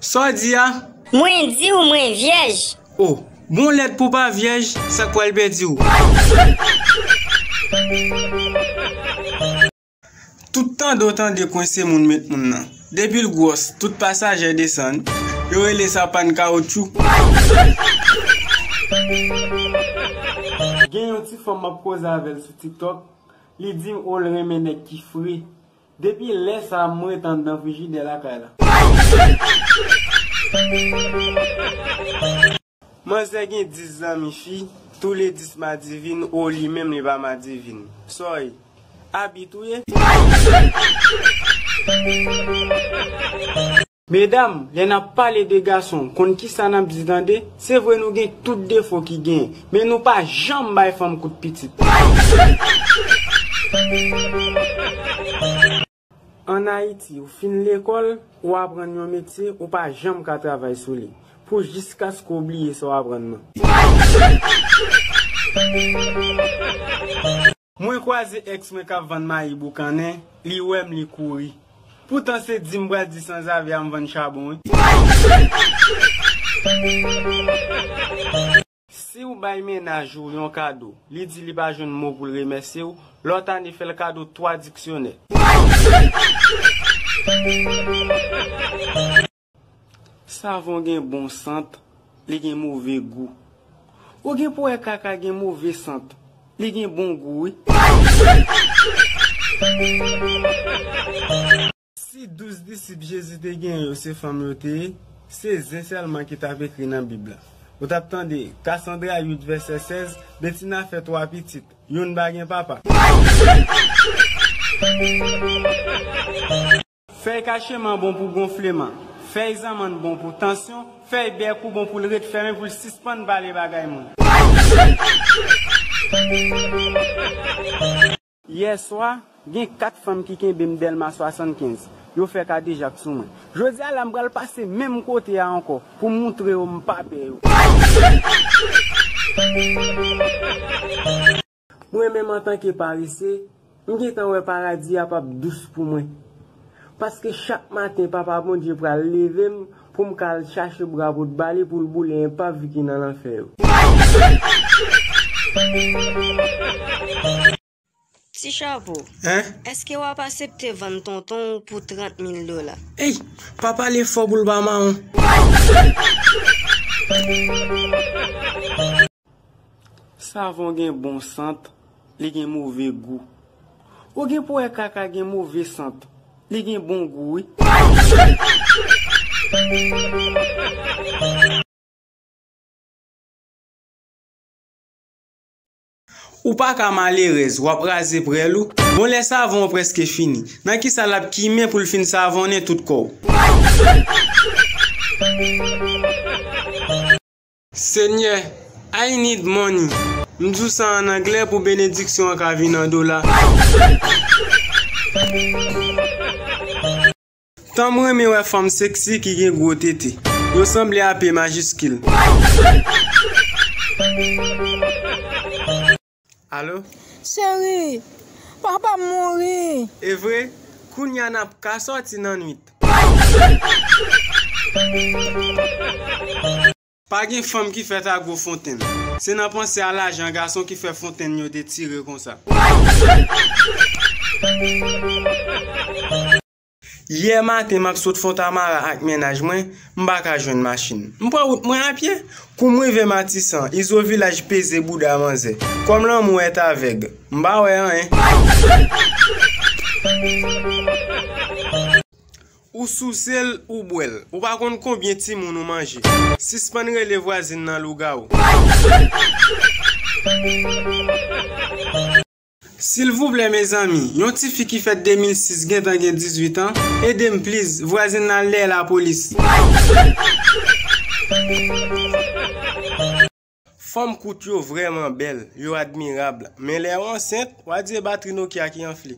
Sa w di a? Mwen di w mwen vyèj. O! Bon lèd pou w pa vyèj, sa k pral pèdi w? Tout tande w tande kwense moun met moun nan. Depi l gwòs, tout pasajè desann. Yo rele sa pàn kawotchou. Gen yon ti fanm m ap koze avè l sou TikTok, li di m o l renmen nèg ki fre. Depi lè sa m ret andan frijidè lakay la. Manzè gen 10 zanmi fi, tou le 10 madivin oh li menm li pa madivin. Sòy. Abit ou ye? Medam, lè nap pale de gason, konn kisa nap di tande, se vre nou gen tout defo ki genyen, men nou pa janm bay fanm kout pitit. An Ayiti, ou fin lekòl, ou aprann yon metye, ou pa janm ka travay sou li, pou jiskaske ou bliye sa w aprann nan. Mwen kwaze ex mwen kap vann mayi boukannen li wèm li kouri poutan se dim pral di sanzave a m vann chabon wi. Siw bay mennaj ou yon kado li di li pa jwenn mo poul remèsye w lòt ane fèl kado 3 diksyonè. Savon gen bon sant, li gen move gou. Ou gen pou wè kaka gen move sant, li gen bon gou wi. Si douz disip Jezi te gen yo se fanm yo te ye, se zen sèlman ki t ap ekri nan Bib la. Ou t ap tande, Kasandra 8 vèsè 16, Betina fè twa pitit, youn pa gen papa. Fèy kacheman bon pou gonfleman, fèy zanmann bon pou tansyon, fèy bèkou bon pou l ret fèmen pou l sispann pale bagay moun. Yè swa, gen 4 fanm ki kenbe m Dèlma 75. Yo fè kadejak sou mwen. Jodi a la m pral pase menm kote a ankò pou m moutre yo m pa pè yo. Mwen menm antanke parese, m gentan wè paradi a pap dous pou mwen. Paske chak maten Papa Bondye pral leve m pou m ka al chache bra pot ba li pou l boule enpav ki nan lanfè yo. Ti chapo, eske wap asepte vann tonton w pou 30 mil dola? Ey! Pa pale fò pou l pa mawon. Savon gen bon sant, li gen move gou. Ou gen pou wè kaka gen move sant, li gen bon gou wi. Ou pa ka malerèz, wap raze prèl ou. Bon lè savon an prèske fini, nan kisa lap kimen poul fin savonnen tout kòw. Senyè I need money m di w sa an anglè pou benediksyon an ka vin an dola. Tanm renmen wè fanm sexy ki gen gwo tete. Yo sanble a p majiskil. Alo. Cheri, papa m mouri. E vre, kounye a n ap ka sòti nan nwit. Pa gen fanm ki fèt a gwo fontenn. Se nan panse a lajan gason ki fè fontenn yo detire konsa. Yè maten m ap sot Fontamara ak mennaj mwen, m pa ka jwenn machin. M pran wout mwen apye. Kou m rive Matisan, Izo Vilaj peze bouda manzè. Kòm lanmou èt avèg, m pa wè anyen. Ou souse l, ou bwè l. Ou pa konn konbyen timoun ou manje. Sispann rele vwazin nan lougawou. Silvouplè mezanmi yon tifi ki fèt 2006 gentan gen 18 an edem please vwazin nan al dèyè la police. Fanm kout yo vrèman bèl, yo admirable, men lè yo ansent, wa di e batri Nokia ki anfle.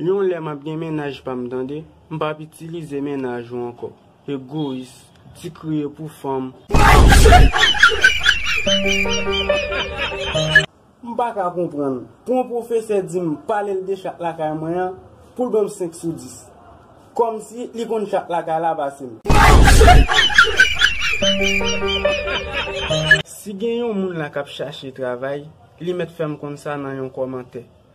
Yon lè map gen mennaj pam tande. M pap itilize mennaj ou ankò. Egoyis. Ti kriye pou fanm. M paka konprann. Pou yon pwofesè dim palel de chat lakay mwen an, poul banm 5 sou 10. Kòmsi li konn chat lakay la pasem. Si gen yon moun la kap chache travay, li mèt fèm konn sa nan yon kòmantè.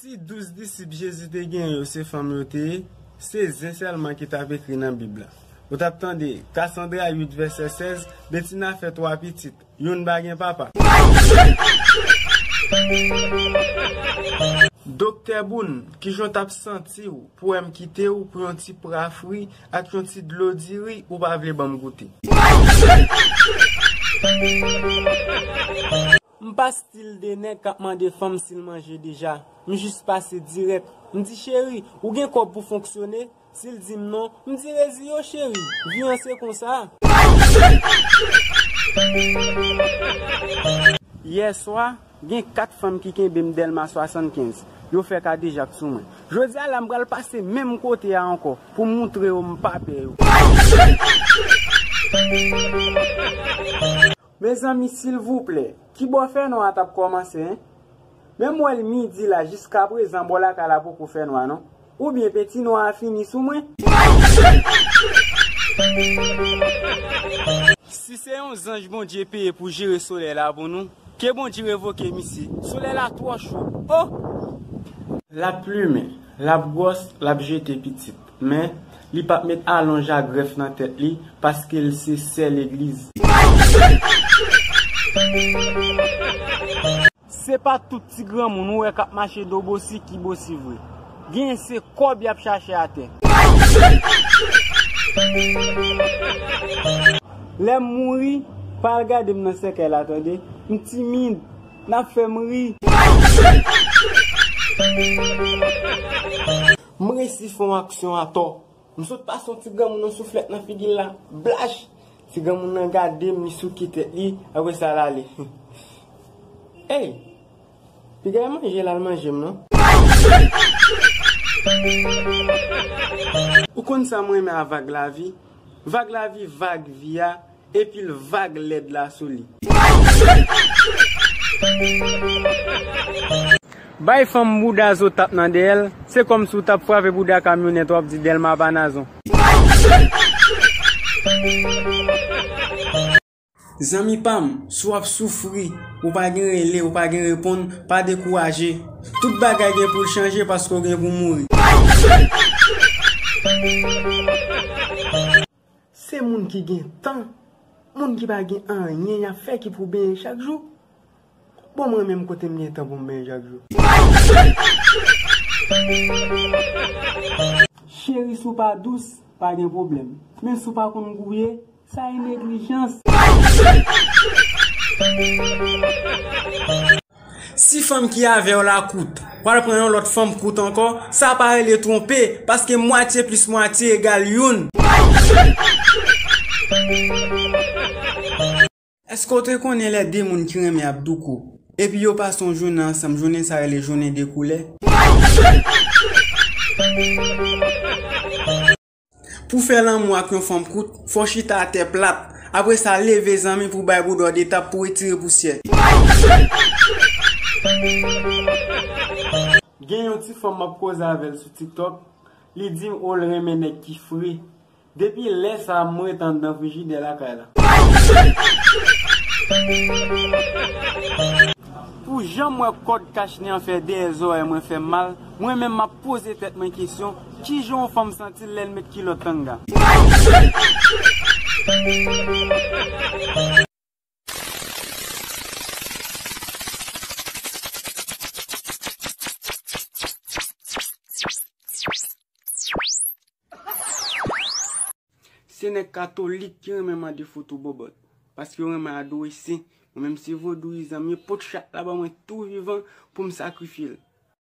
Si douz disip Jezi te genyen yo se fanm yo te ye, se zen sèlman ki t ap ekri nan Bib la. Ou t ap tande, Kasandra 8 vèsè 16, Betina fè twa pitit, youn pa gen papa. Doktè Boun, ki jan w t ap santi w pou wè m kite w pou yon ti pra fri ak yon ti dlo diri ou pa vle ban m goute? M pa stil de nèg kap mande fanm sil manje deja, m jis pase dirèk, m di cheri, ou gen kòb pou fonksyone, sil dim non, m di rezi yo cheri, vi an se konsa. Yè swa, gen 4 fanm ki kenbe m Dèlma 75, yo fè kadejak sou mwen. Jodi a la m pral pase menm kote a ankò pou m moutre yo m pa pè yo. Mezanmi silvouplè kibò fènwa a tap kòmanse hein menm wèl midi la jiskaprezan bò lakay la poko fènwa non oubyen penti nwa a fini sou mwen. Si se yon zanj Bondye peye pou jere solèy la pou nou, ke Bondye revoke misye. Solèy la twò cho. Ohh. Lap plumen, lap gwòs, lap jete pitit. Men, li pap met alonj a grèf nan tèt li, paske l se sè legliz. Se pa tout ti granmoun ou wè kap mache do bosi ki bosi vre. Genyen se kòb yap chache atè. Lèm mouri, pa al gade m nan sèkèy la tande. M timid, nap fè m ri. M resi fon aksyon atò. M sot pase yon ti granmoun yon souflèt nan figi l la. Blach! Ti granmoun nan gade m, li souke tèt li, apre sa l ale. Ey! Piga e manje l al manje m non. Ou konn sa m renmen a vag lavi? Vag lavi, vag vi a, Epil vag lèd la sou li. Bay fanm bouda zo tap nan dèyèl se kòmsi ou tap frape bouda kamyonèt wap di dèlma pa nazon. Zanmi pam, si w ap soufri, ou pa gen rele, ou pa gen reponn, pa dekouraje. Tout bagay gen pou l chanje paske w gen pou mouri. Se moun ki gen tan, moun ki pa gen anyen yap fè ki pou benyen chak jou. Bon mwen menm kote m gen tan pou m benyen chak jou. Cheri si w pa dous, pa gen pwoblèm. Men si w pa konn gouye, sa e neglijans. Si fanm ki avèw la kout, wal pran yon lòt fanm kout ankò, sa pa rele twonpe, paske mwatye plis mwatye egal youn. Eske w te konnen lè de moun ki renmen ap douko, epi yo pase yon jounen ansanm jounen sa rele jounen de koulè? Pou fè lanmou ak yon fanm kout, fò chita atè plat. Apre sa, leve zanmi pou bay bouda w de tap pou etire pousyè. Gen yon ti fanm map koze avè l sou tiktok, li di m o l renmen nèg ki fre. Depi lè sa m ret anndan frijidè lakay la. Pou jan m wè kòd kachnen an fè dèyè zòrèy mwen fè m mal, mwen menm map poze tèt mwen kesyon, Kijan yon fanm santil lèl met kilòt tanga. Se nèg katolik ki renmen mande foto bòbòt. Paske yo renmen adore sen. Mwen menm se vodouyizan m ye pot chat la ban mwen tou vivan pou m sakrifye l.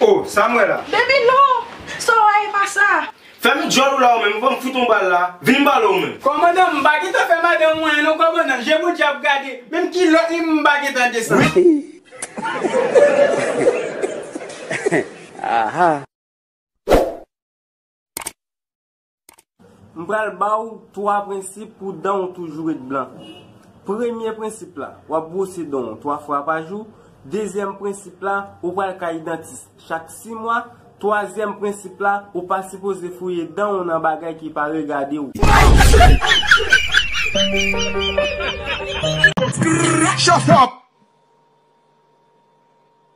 Oh sam wè la. Baby non! Sa wè a e pa sa. Fèmen dyòl ou la ou menm ou pa m fout on bal la, vin m pale ou menm. Kòmandan m pa gentan fè madan m anyen non kòmandan, je bondye ap gade, menm kilòt li m pa gentan desann. M pral ba w 3 prensip pou dan w toujou ret blan. Premye prensip la, w ap bwose dan w 3 fwa pa jou. Dezyèm prensip la, ou pral kay dantis chak 6 mwa. Twazyèm prensip la, ou pa sipoze fouye dan w nan bagay ki pa regade w.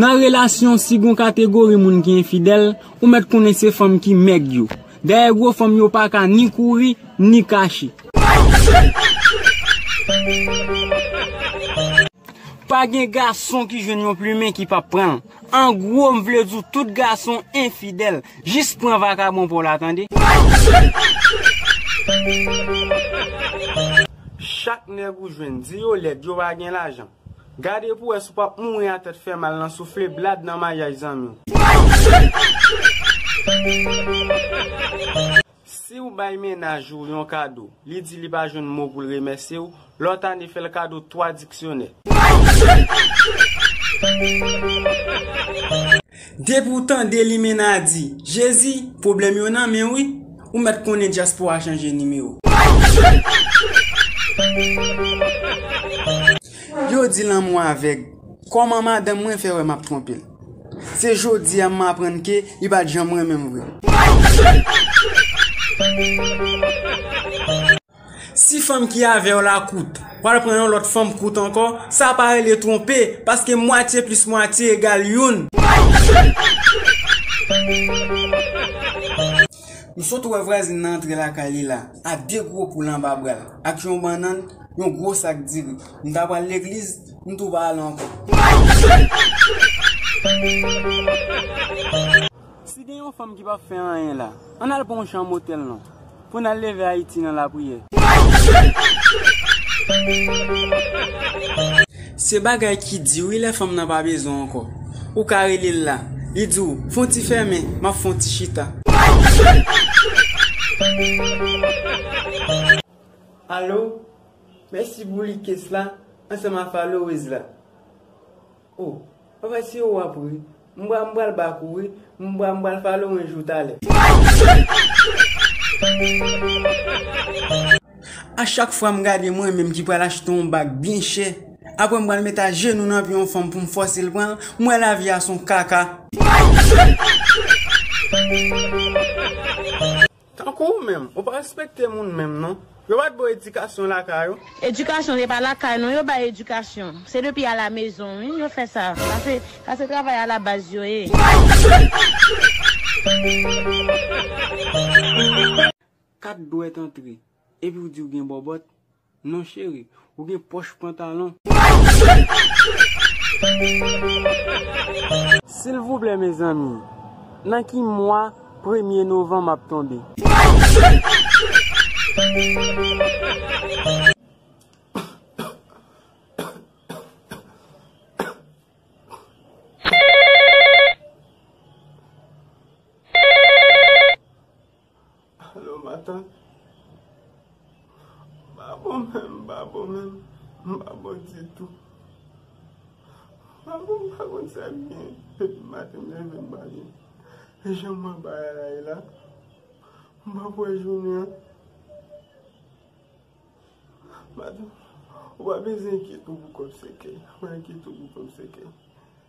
Nan relasyon si gon kategori moun ki enfidèl, ou mèt konnen se fanm ki mèg yo. Dèyè gwo fanm yo pa ka ni kouri, ni kache. Pa gen gason ki jwenn yon plumen ki pap pran l. An gwo m vle di w tout gason enfidèl. Jis pran vakabon pa w la tande. Chak nèg ou jwenn, di yo lèd, yo pa gen lajan. Gade pou wè si w pap mouri a tèt fè mal nan soufle blad nan maryaj zanmi w. Si w bay mennaj ou yon kado, li di li pa jwenn mo pou l remèsye w, lòt ane fè l kado 3 diksyonè. Depi w tande limenadi, jezi, pwoblèm yo nan men w wi, ou mèt konnen dyaspora chanje nimewo. Yo di lanmou avèg. Kòman madanm mwen fè wè map twonpel? Se jodi a m aprann ke li pat janm renmen m vre. Si fanm ki avèw la kout, wal pran yon lòt fanm kout ankò, sa pa rele twonpe, paske mwatye plis mwatye egal youn. M sot wè vwazin nan antre lakay li la a de gwo poul anba bra l, ak yon bannann, yon gwo sak diri. M ta pral legliz, m tou pa al ankò. Si gen yon fanm ki pap fè anyen la, ann al pran yon chanm otèl non, pou n al leve Ayiti nan lapriyè. Se bagay ki di wi lè fanm nan pa bezwen w ankò. Ou ka rele l la, li di w, fon ti fèmen, m ap fon ti chita. Alo, mèsi pou likes la ansanm a followers la. Oh. Anfen siw wap ri M bra m pral back ou wi M bra m pral fè lorange ou talè. A chak fwa m gade mwen menm ki pral achte yon bag byen chè aprè m pral met a jenou nan pye yon fanm pou m fòse l pran l m wè lavi a son kaka. Tankou ou menm, ou pa respekte moun menm non. Yo pat baw edikasyon lakay ou? Edikasyon se pa lakay non yo bay edikasyon se depi a la mezon wi yo fè sa pase pase travay a la baz yo ye. Kat dwèt antre epiw diw gen bòbòt. Non cheri, ou gen pòch pantalon. Silvouplè mezanmi nan ki mwa premye novanm ap tonbe. Alo matant m pa bon menm m pa bon menm m pa bon ditou m pa bon m pa konn sa k gen depi maten m leve m pa byen e jan m wè bagay la ye la m pap wè jounen an matant ou pa bezwen enkyete w pou kò w sèkèy m pa enkyete w pou kò m sèkèy.